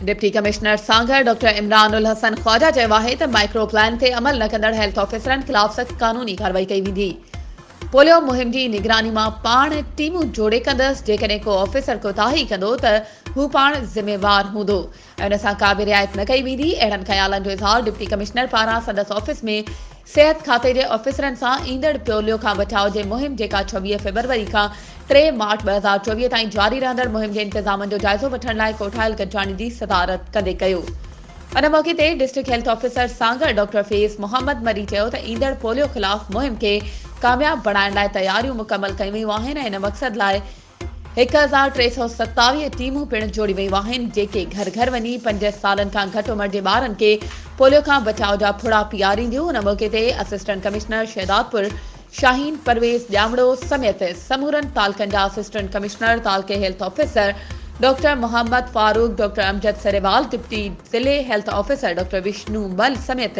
Deputy commissioner Sanghar doctor Imran Al Hassan Khawaja چيو آهي ته مائڪرو پلان تي عمل نه ڪندڙ هيلٿ آفيسرن خلاف سخت قانوني ڪارروائي ڪئي ويندي پوليو مهم جي نگراني مان پاڻ ٽيمون جوڙي ڪندس جيڪڏهن ڪو آفيسر ڪوتاهي ڪندو ته هو پاڻ ذميوار هوندو ان سان ڪا به رعايت نه ڪئي ويندي، اهڙن خيالن جو اظهار ڊپٽي ڪمشنر پاران سندس آفيس ۾ صحت کاتي جي آفيسرن سان ايندڙ پيوليو کان بچاء جي مهم جيڪا ڇويهه فيبروري کان ٽي مارچ ٻه هزار چوويهه تائين جاري رهندڙ مهم جي انتظامن جو جائزو وٺڻ لاء ڪوٺايل گڏجاڻي جي صدارت ڪندي ڪيو. ان موقعي تي district health officer Sanghar doctor Faiz Muhammad Marri چيو ته ايندڙ پوليو خلاف مهم کي ڪامياب بڻائڻ لاء تياريون مڪمل ڪيون ويون آهن ۽ ان مقصد لاء هڪ هزار ٽي سؤ ستاويهه ٽيمون پڻ جوڙي ويون آهن، جيڪي گهر گهر وڃي پنج سالن کان گهٽ عمر جي ٻارن کي پوليو کان بچاء جا ڦڙا پيارينديون، ان موقعي تي اسسٽنٽ ڪمشنر شهدادپور شاهين پرويز ڄامڙو سميت سمورن تعلقن جا اسسٽنٽ ڪمشنر، تعلقي health officer doctor Muhammad Farooq, doctor Amjad Sarewal, deputy ضلعي health officer doctor Vishnu Mal سميت